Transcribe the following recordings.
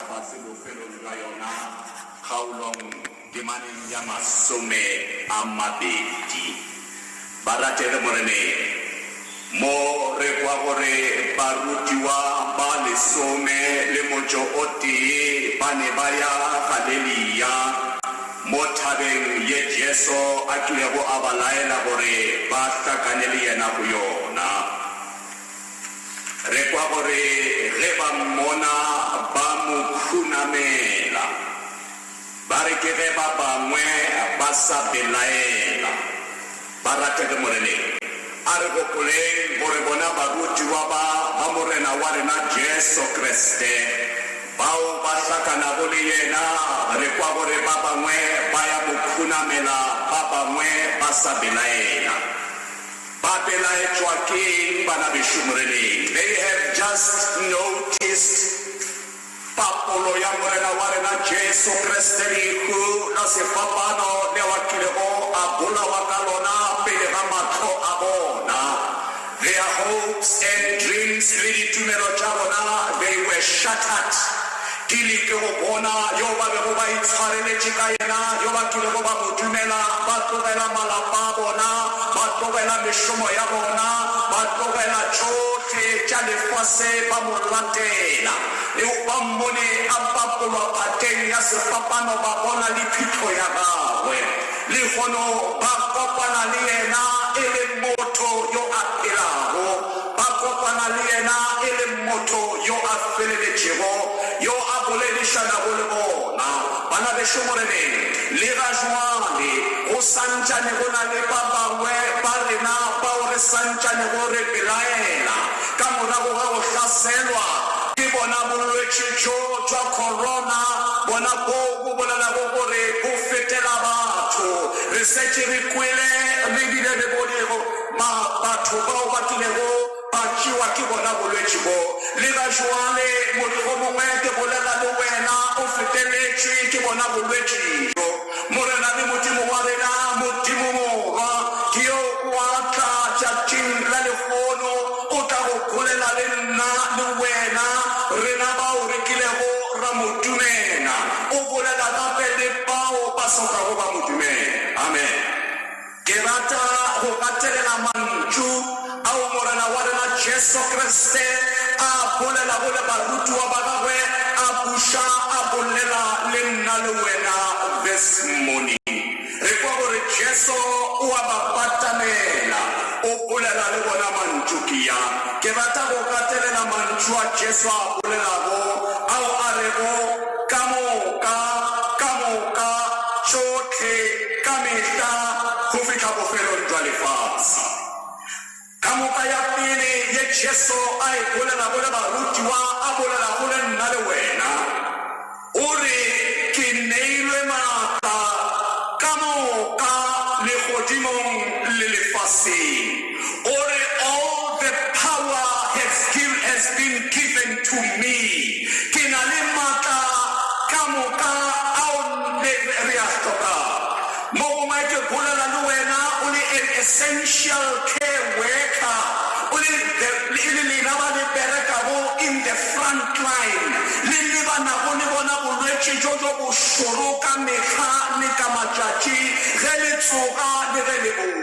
Fase bofelong bja yona, kgaolong temaneng ya masome a mabedi. Barategi Moreneng, mo re kwa gore barutiwa ba lesome le motšo o tee ba ne ba ya Galelia, mo thabeng ye Jesu a kilego a ba laela gore ba hlakane le yena go yona. Re kwa gore ge ba mmona ba mo khunamela, ba re ke ge ba bangwe ba sa belaela. Barategi Moreneng, a re gopoleng gore bona barutiwa ba ba Morena wa rena Jesu Kriste bao ba hlakanago le yena, re kwa gore ba bangwe ba ya mo khunamela ba bangwe ba sa belaela. Ba belaetšwa ke eng bana bešo Moreneng? They have just noticed papolo ya Morena wa rena Jesu Kriste, Lehu la sefapano leo a kilego a bolawa ka lona pele ga mahlo a bona. Their hopes and dreams le ditumelo tša bona, they were shattered. Ke leke go bona yo ba bego ba itshwareletše ka yena, yo ba kilego ba mo dumela, ba tlogela malapa a bona, ba tlogela mešomo ya bona, ba tlogela tšohle tša lefase, ba mo latela. Le o ba mmone a bapolwa phateng ya sefapano, ba bona le phitlho ya gagwe. Lehono ba kopana le yena e le motho yo a phelago, ba kopana le yena e le. motho yo a feleletšego yo a boledišanago le bona. Bana bešo, Moreneng, le gajwale go sa ntšane go na le ba bangwe ba rena bao re sa ntšanego re belaela ka morago ga go hlaselwa ke bona bolwetši bjo bja Corona, bona boo bo bolelago gore bo fetela batho. Re šetše re kwele re bile re bodego ba batho bao ba kilego. Ba tšewa ke bona bolwetši boo. Le gabjale, mohlomongwe ke bolela le wena o feteletšwe ke bona bolwetši bjo. Morena le Modimo wa rena, Modimo Morwa, ke yo o a tla tšatšing la lehono, o tla go bolela le nna le wena, rena bao re kilego ra mo dumela. O bolela gape le bao ba sa tlago ba mo dumela. Amen. Ke rata go gatelela mantšu ao Morena wa rena Jesu Kriste a bolelago le barutiwa ba gagwe a buša a bolela le nna le wena this morning. Re kwa gore Jesu o a ba batamela, o bolela le bona mantšu ke ya. Ke rata go gatelela mantšu a Jesu a bolelago ao a rego, Ka moka, ka moka, tšohle, ka mehla, go fihla bofelong bja lefase. Ka moka ya pele ye Jesu a e bolelago le barutiwa, a bolelago le nna le wena, O re, Ke neilwe maatla ka moka legodimong le lefaseng. O re, All the power has give has been given to me, ke na le maatla ka moka ao ne re a hlokago. Mo gongwe ke bolela le wena o le an essential care worker, o le the, e le lena ba le berekago in the front line, le lebanago le bona bolwetši bjo bjo bošoro ka mehla le ka matšatši ge le tsoga le ge le.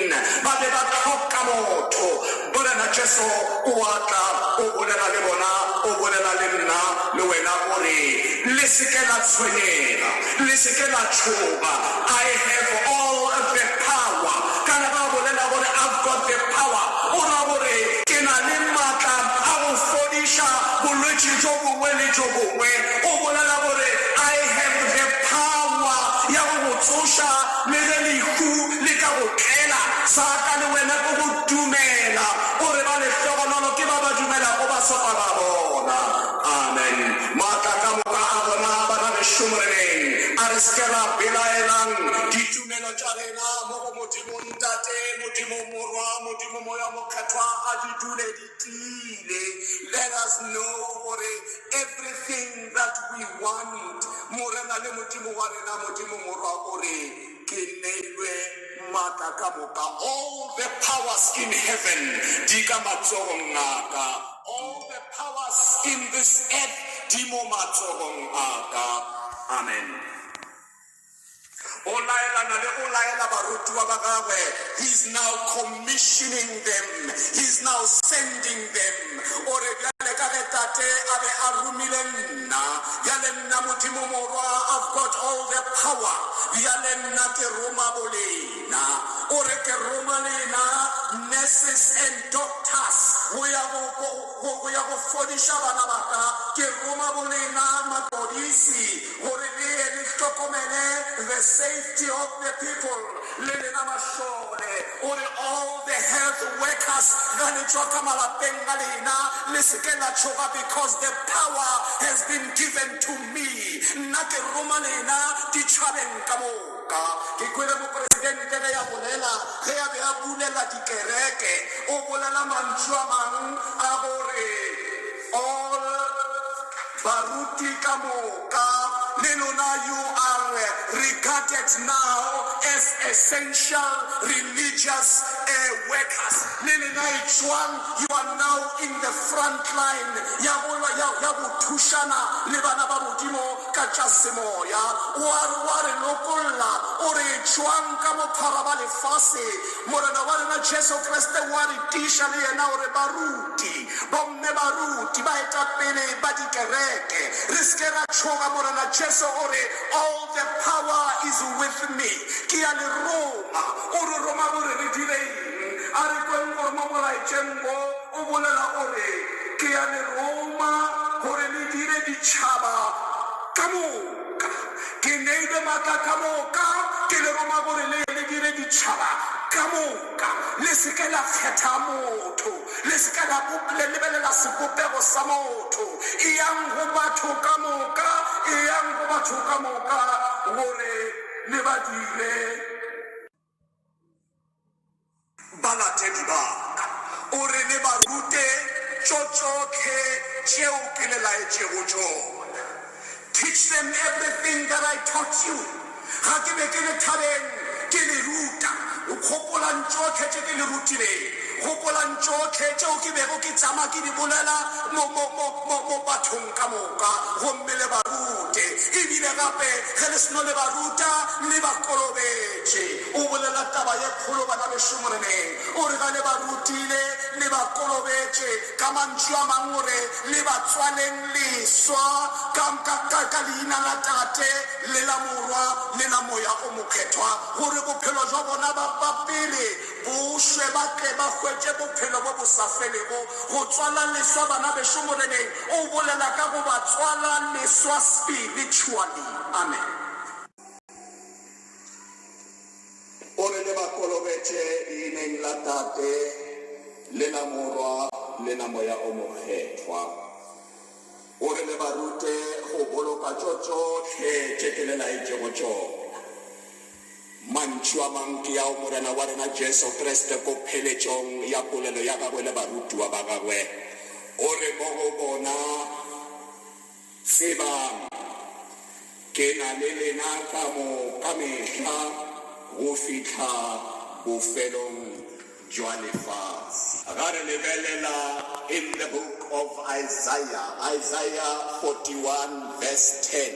ba be ba hloka motho. Morena Jesu o a tla, o bolela le bona, o bolela le nna le wena, o re, Le se ke la tshwenyega, le se ke la tšhoga, I have all the power. Ka ge a bolela gore I've got the power, o ra gore ke na le matla a go fodiša bolwetši bjo bongwe le bjo bongwe. O bolela gore I have the power ya go go tsoša le ge lehu le ka go tlela. Sa-ka le wena ke go dumela gore ba lehlogonolo ke ba ba dumelago ba soka ba bona. Amen. Maatla ka moka a gona, bana bešo, Moreneng. A re se ke ra belaelang ditumelo tša rena mo go Modimo Ntate, Modimo Morwa, Modimo Moya Mokgethwa, a di dule di tiile. Let us know gore everything that we want, Morena le Modimo wa rena, Modimo Morwa o re. Ke neilwe maatla ka moka, all the powers in heaven di ka matsogong a ka, all the powers in this earth di mo matsogong a ka. Amen. O laelana le go laela barutiwa ba gagwe, He is now commissioning them, He is now sending them. O re, Bjale ka ge Tate a be a romile Nna, bjale Nna, Modimo Morwa, I've got all the power, bjale Nna ke roma bolena. O re, Ke roma lena, nurses and doctors, go ya go, go, go, go ya go fodiša bana ba ka. Ke roma bolena, mapodisi, gore le ye le hlokomele the safety of the people, le lena mašole. O re, All the health workers, ga le tšwa ka malapeng a lena, le se ke la tšhoga, because the power has been given to me. Nna ke roma lena ditšhabeng ka moka. Ke kwele Mopresidente ge a bolela, ge a be a bulela dikereke, o bolela mantšu a mang a gore, All, baruti ka moka, le lona you are regarded now as essential religious workers, le lena e tšwang you are now in the front line ya go ya go thušana le bana ba Modimo ka tša semoya. O a re, o a re lokolla, o re e tšwang ka bophara ba lefase. Morena wa rena Jesu Kriste o a re tiiša le yena, o re, Baruti. Baithuti, bomme baruti, baetapele ba dikereke, re se ke ra tšhoga. Morena Jesu o re, All the power is with me. Ke a le roma. O re roma gore re dire eng? A re kweng gore mo Molaetšeng wo o bolela o re, Ke a le roma gore le dire ditšhaba ka moka. Ke neilwe matla ka moka, ke le roma gore le ye le dire ditšhaba ka moka. Ka, le se ke la kgetha motho, le se ke la le lebelela sebopego sa motho. Eyang go batho ka moka, eyang go batho ka moka, gore le ba dire balatedi ba Ka, gore le ba rute tšo tšohle tšeo Ke le laetšego tšona. Teach them everything that I taught you, ga ke be ke le thabeng ke le ruta. O kgopolang tšohle tše ke le rutileng? Gopolang tšohle tšeo ke bego ke tšama ke di bolela mo, mo, mo, mo, mo bathong ka moka, gomme le ba rute. E bile gape ge le seno le ba ruta, le ba kolobetše. O bolela taba ye kgolo, bana bešo moreneng. O re ga le ba rutile, le ba kolobetše, Ka mantšu a mang o re, Le ba tswaleng leso ka, ka, ka, ka Leina la Tate, le la Morwa, le la Moya o Mokgethwa, gore bophelo jwa bona ba, ba pele bo šwe, ba tle ba hwetše Bophelo bo bo sa felego. Go tswala leswa, bana bešo, Moreneng o bolela ka go ba tswala leswa spiritually. Amen. O re, Le ba kolobetše Leineng la Tate, le la Morwa, le la Moya o Mokgethwa. O re, Le ba rute go boloka tšo tšohle tše Ke le laetšego tšona. Mantšu a mang ke ao Morena wa rena Jesu Kriste ko pheletšong ya polelo ya Gagwe le barutiwa ba Gagwe, O re mo go bona, Tsebang, ke na le lena ka mo ka mehla go fihla bofelong bja lefase. Ga re lebelela in the book of Isaiah, Isaiah 41 verse 10,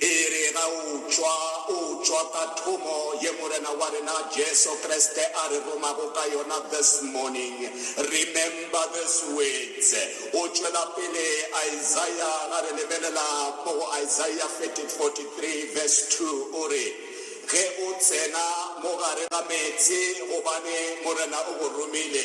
E re ga o tšwa, o tšwa ka thomo ye Morena wa rena Jesu Kriste a re romago ka yona this morning. Remember these words. O tšwela pele Isaiah, ga re lebelela mo go Isaiah 43 verse 2, o re, Ge o tsena mo gare ga meetse, gobane Morena o go romile,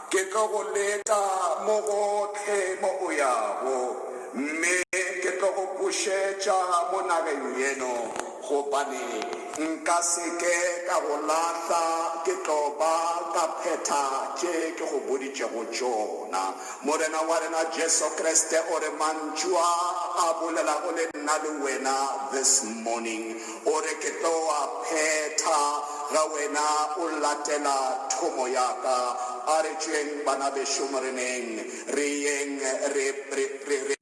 Ke tlo go leta mo gohle mo o yago, mme ke tlo go bušetša mo nageng yeno, gobane nka se ke ka go lahla, ke tlo ba ka phetha tše ke go boditšego tšona. Morena wa rena Jesu Kriste o re, Mantšu a a bolelago le nna le wena this morning, O re, Ke tlo a phetha, ge wena o latela thomo ya ka. A re tšeeng bana bešo moreneng, re yeng re, re, re, re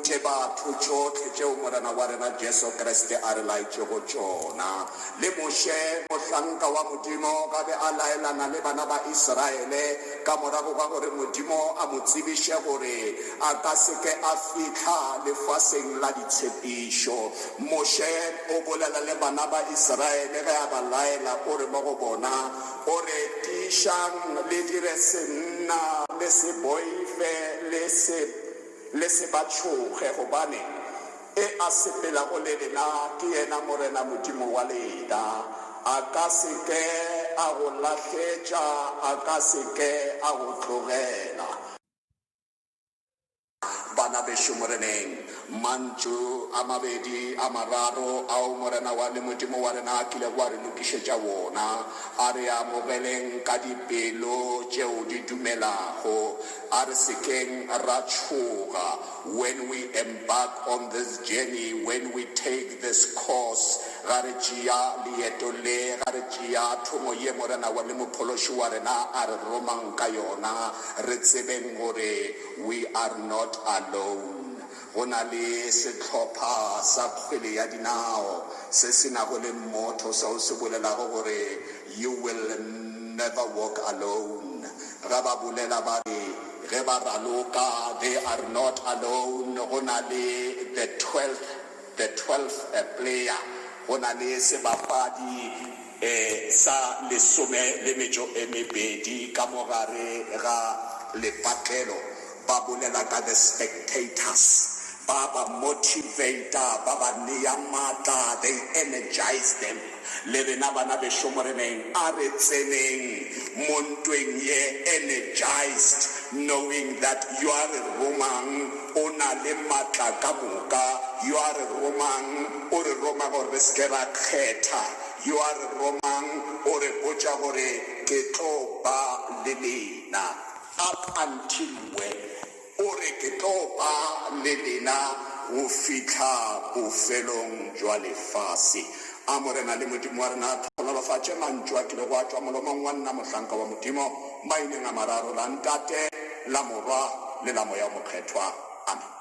rute batho tšohle tšeo Morena wa rena Jesu Kriste a re laetšego tšona. Le Moshe, mohlanka wa Modimo, ga be a laelana le bana ba Israele ka morago ga gore Modimo a mo tsebiše gore, A ka se ke a fihla lefaseng la ditshepišo. Moshe o bolela le bana ba Israele ge a ba laela, o re mo go bona, o re, Tiišang le dire senna le se boife le se le se ba tšhoge, gobane e a sepelago le lena ke yena Morena Modimo wa lena. A ka se ke a go lahletša, a ka se ke a go tlogela. Bana bešo Moreneng, mantšu a mabedi a mararo ao Morena wa le Modimo wa rena a kilego a re lokišetša wona, a re amogeleng ka dipelo tšeo di dumelago, a re se keng ra tšhoga when we embark on this journey, when we take this course, ga re tšea leeto le, ga re tšea thomo ye Morena wa le Mophološi wa rena a re romang ka yona. Re tsebeng gore we are not alone. Go na le sehlopha sa kgwele ya dinao se se nago le motto seo se bolelago gore You will never walk alone. Ge ba bolela ba re ge ba raloka they are not alone go na le the twelfth, the twelfth player, go na le sebapadi. e sa lesome le metšo e mebedi ka mo gare ga lepatlelo, ba bolela ka The Spectators, ba ba motivata, ba ba nea matla, they energize them. Le rena bana bešo Moreneng, a re tseneng mo ntweng ye energized, knowing that yo a re romang o na le matla ka moka, yo a re romang o re roma gore re se ke ra kgetha. yo a re romang o re botša gore ke tlo ba le lena up until when? O re ke tlo ba le lena go fihla bofelong jwa lefase. A Morena le Modimo wa rena a tlhonolofatše mantšu a kilego a tšwa molomong wa nna mohlanka wa Modimo, maineng a mararo, la Ntate, la Morwa, le la Moya o Mokgethwa. Amen.